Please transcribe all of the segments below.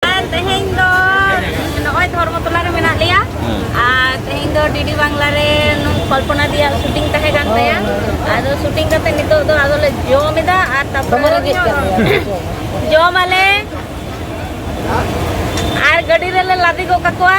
ᱛᱮᱦᱮᱧ ᱫᱚ ᱱᱚᱜᱼᱚᱭ ᱫᱷᱚᱨᱢᱚᱛᱚᱞᱟ ᱨᱮ ᱢᱮᱱᱟᱜ ᱞᱮᱭᱟ ᱟᱨ ᱛᱮᱦᱮᱧ ᱫᱚ ᱰᱤᱰᱤ ᱵᱟᱝᱞᱟ ᱨᱮ ᱠᱚᱞᱯᱚᱱᱟ ᱫᱤᱭᱟᱜ ᱥᱩᱴᱤᱝ ᱛᱟᱦᱮᱸ ᱠᱟᱱ ᱛᱟᱭᱟ ᱟᱫᱚ ᱥᱩᱴᱤᱝ ᱠᱟᱛᱮ ᱱᱤᱛᱚᱜ ᱫᱚ ᱟᱫᱚ ᱞᱮ ᱡᱚᱢ ᱮᱫᱟ ᱟᱨ ᱛᱟᱯᱚᱨ ᱡᱚᱢ ᱟᱞᱮ ᱟᱨ ᱜᱟᱹᱰᱤ ᱨᱮᱞᱮ ᱞᱟᱫᱮ ᱜᱚᱫ ᱠᱟᱠᱚᱣᱟ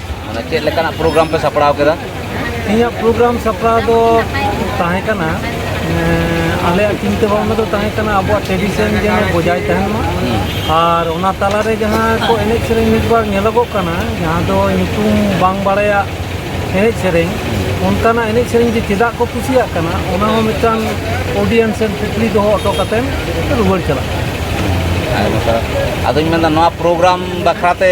ᱚᱱᱟ ᱪᱮᱫ ᱞᱮᱠᱟᱱᱟᱜ ᱯᱨᱳᱜᱨᱟᱢ ᱯᱮ ᱥᱟᱯᱲᱟᱣ ᱠᱮᱫᱟ ᱤᱧᱟᱹᱜ ᱯᱨᱳᱜᱨᱟᱢ ᱥᱟᱯᱲᱟᱣ ᱫᱚ ᱛᱟᱦᱮᱸ ᱠᱟᱱᱟ ᱟᱞᱮᱭᱟᱜ ᱪᱤᱱᱛᱟᱹ ᱵᱷᱟᱵᱽᱱᱟ ᱫᱚ ᱛᱟᱦᱮᱸ ᱠᱟᱱᱟ ᱟᱵᱚᱣᱟᱜ ᱴᱨᱮᱰᱤᱥᱚᱱ ᱡᱮᱱᱚ ᱵᱚᱡᱟᱭ ᱛᱟᱦᱮᱱ ᱢᱟ ᱟᱨ ᱚᱱᱟ ᱛᱟᱞᱟᱨᱮ ᱡᱟᱦᱟᱸ ᱠᱚ ᱮᱱᱮᱡ ᱥᱮᱨᱮᱧ ᱢᱤᱫ ᱵᱟᱨ ᱧᱮᱞᱚᱜᱚᱜ ᱠᱟᱱᱟ ᱡᱟᱦᱟᱸ ᱫᱚ ᱧᱩᱛᱩᱢ ᱵᱟᱝ ᱵᱟᱲᱟᱭᱟᱜ ᱮᱱᱮᱡ ᱥᱮᱨᱮᱧ ᱚᱱᱠᱟᱱᱟᱜ ᱮᱱᱮᱡ ᱥᱮᱨᱮᱧ ᱡᱮ ᱪᱮᱫᱟᱜ ᱠᱚ ᱠᱩᱥᱤᱭᱟᱜ ᱠᱟᱱᱟ ᱚᱱᱟ ᱦᱚᱸ ᱢᱤᱫᱴᱟᱝ ᱚᱰᱤᱭᱮᱱᱥ ᱨᱮ ᱠᱩᱠᱞᱤ ᱫᱚᱦᱚ ᱦᱚᱴᱚ ᱠᱟᱛᱮᱫ ᱨᱩᱣᱟᱹᱲ ᱪᱟᱞᱟᱜ ᱠᱟᱱᱟ ᱟᱫᱚᱧ ᱢᱮᱱᱫᱟ ᱱᱚᱣᱟ ᱯᱨᱳᱜᱨᱟᱢ ᱵᱟᱠᱷᱨᱟᱛᱮ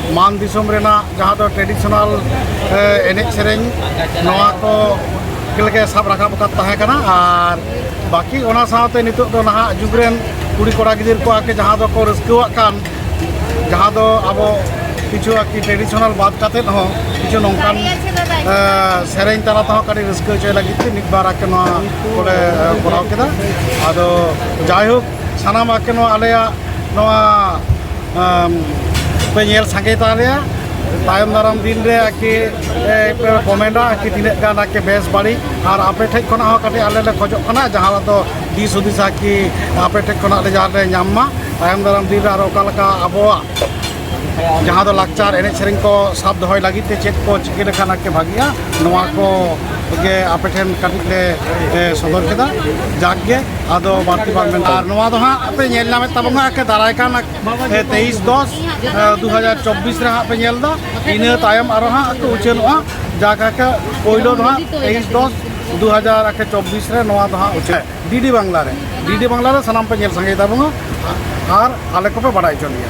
ᱢᱟᱱ ᱫᱤᱥᱚᱢ ᱨᱮᱱᱟᱜ ᱡᱟᱦᱟᱸ ᱫᱚ ᱴᱨᱮᱰᱤᱥᱚᱱᱟᱞ ᱮᱱᱮᱡ ᱥᱮᱨᱮᱧ ᱱᱚᱣᱟ ᱠᱚ ᱜᱮᱞᱮ ᱥᱟᱵ ᱨᱟᱠᱟᱵ ᱟᱠᱟᱫ ᱛᱟᱦᱮᱸ ᱠᱟᱱᱟ ᱟᱨ ᱵᱟᱹᱠᱤ ᱚᱱᱟ ᱥᱟᱶᱛᱮ ᱱᱤᱛᱚᱜ ᱫᱚ ᱱᱟᱦᱟᱜ ᱡᱩᱜᱽ ᱨᱮᱱ ᱠᱩᱲᱤ ᱠᱚᱲᱟ ᱜᱤᱫᱟᱹᱨ ᱠᱚ ᱟᱨᱠᱤ ᱡᱟᱦᱟᱸ ᱫᱚᱠᱚ ᱨᱟᱹᱥᱠᱟᱹᱣᱟᱜ ᱠᱟᱱ ᱡᱟᱦᱟᱸ ᱫᱚ ᱟᱵᱚ ᱠᱤᱪᱷᱩ ᱟᱨᱠᱤ ᱴᱨᱮᱰᱤᱥᱚᱱᱟᱞ ᱵᱟᱫ ᱠᱟᱛᱮᱫ ᱦᱚᱸ ᱠᱤᱪᱷᱩ ᱱᱚᱝᱠᱟᱱ ᱥᱮᱨᱮᱧ ᱛᱟᱞᱟ ᱛᱮᱦᱚᱸ ᱠᱟᱹᱴᱤᱡ ᱨᱟᱹᱥᱠᱟᱹ ᱦᱚᱪᱚᱭ ᱞᱟᱹᱜᱤᱫ ᱛᱮ ᱢᱤᱫ ᱵᱟᱨ ᱟᱨᱠᱤ ᱱᱚᱣᱟ ᱠᱚᱞᱮ ᱠᱚᱨᱟᱣ ᱠᱮᱫᱟ ᱟᱫᱚ ᱡᱟᱭᱦᱳᱠ ᱥᱟᱱᱟᱢᱟᱜ ᱜᱮ ᱱᱚᱣᱟ ᱟᱞᱮᱭᱟᱜ ᱱᱚᱣᱟ ᱯᱮ ᱧᱮᱞ ᱥᱟᱸᱜᱮ ᱛᱟᱞᱮᱭᱟ ᱛᱟᱭᱚᱢ ᱫᱟᱨᱟᱢ ᱫᱤᱱ ᱨᱮ ᱟᱨᱠᱤ ᱯᱮ ᱠᱚᱢᱮᱱᱴᱟ ᱟᱨᱠᱤ ᱛᱤᱱᱟᱹᱜ ᱜᱟᱱ ᱟᱨᱠᱤ ᱵᱮᱥ ᱵᱟᱹᱲᱤᱡ ᱟᱨ ᱟᱯᱮ ᱴᱷᱮᱡ ᱠᱷᱚᱱᱟᱜ ᱦᱚᱸ ᱠᱟᱹᱴᱤᱡ ᱟᱞᱮ ᱞᱮ ᱠᱷᱚᱡᱚᱜ ᱠᱟᱱᱟ ᱡᱟᱦᱟᱸ ᱫᱚ ᱫᱤᱥ ᱦᱩᱫᱤᱥ ᱟᱨᱠᱤ ᱟᱯᱮ ᱴᱷᱮᱡ ᱠᱷᱚᱱᱟᱜ ᱞᱮ ᱡᱟᱦᱟᱸ ᱞᱮ ᱧᱟᱢ ᱢᱟ ᱛᱟᱭᱚᱢ ᱫᱟᱨᱟᱢ ᱫᱤᱱ ᱨᱮ ᱟᱨᱚ ᱚᱠᱟ ᱞᱮᱠᱟ ᱟᱵᱚᱣᱟᱜ ᱡᱟᱦᱟᱸ ᱫᱚ ᱞᱟᱠᱪᱟᱨ ᱮᱱᱮᱡ ᱥᱮᱨᱮᱧ ᱠᱚ ᱥᱟᱵ ᱫᱚᱦᱚᱭ ᱞᱟᱹᱜᱤᱫ ᱛᱮ ᱪᱮᱫ ᱠᱚ ᱪᱤᱠᱟᱹ ᱞᱮᱠᱷᱟᱱ ᱟᱨᱠᱤ ᱵᱷᱟᱹᱜᱤᱜᱼᱟ ᱱᱚᱣᱟ ᱠᱚ ᱜᱮ ᱟᱯᱮ ᱴᱷᱮᱱ ᱠᱟᱹᱴᱤᱡ ᱞᱮ ᱥᱚᱫᱚᱨ ᱠᱮᱫᱟ ᱡᱟᱠ ᱜᱮ ᱟᱫᱚ ᱵᱟᱹᱲᱛᱤ ᱵᱟᱝ ᱢᱮᱱ ᱟᱨ ᱱᱚᱣᱟ ᱫᱚ ᱦᱟᱸᱜ ᱯᱮ ᱧᱮᱞ ᱧᱟᱢᱮᱫ ᱛᱟᱵᱚᱱᱟ ᱟᱨᱠᱤ ᱫᱟᱨᱟᱭ ᱠᱟᱱ ᱛᱮᱭᱤᱥ ᱫᱚᱥ ᱫᱩ ᱦᱟᱡᱟᱨ ᱪᱚᱵᱵᱤᱥ ᱨᱮ ᱦᱟᱸᱜ ᱯᱮ ᱧᱮᱞ ᱮᱫᱟ ᱤᱱᱟᱹ ᱛᱟᱭᱚᱢ ᱟᱨᱚ ᱦᱟᱸᱜ ᱠᱚ ᱩᱪᱷᱟᱹᱱᱚᱜᱼᱟ ᱡᱟᱠ ᱟᱨᱠᱤ ᱯᱳᱭᱞᱳ ᱫᱚ ᱦᱟᱸᱜ ᱛᱮᱭᱤᱥ ᱫᱚᱥ ᱫᱩ ᱦᱟᱡᱟᱨ ᱪᱚᱵᱵᱤᱥ ᱨᱮ ᱱᱚᱣᱟ ᱫᱚ ᱦᱟᱸᱜ ᱩᱪᱷᱟᱹᱱ ᱰᱤᱰᱤ ᱵᱟᱝᱞᱟ ᱨᱮ ᱰᱤᱰᱤ ᱵᱟᱝᱞᱟ ᱨᱮ ᱥᱟᱱᱟᱢ ᱯᱮ ᱧᱮᱞ ᱥᱟᱸᱜᱮᱭ ᱛᱟᱵᱚᱱᱟ ᱟᱨ ᱟᱞᱮ ᱠᱚᱯᱮ ᱵᱟᱰᱟᱭ ᱦᱚᱪᱚ ᱞᱮᱭᱟ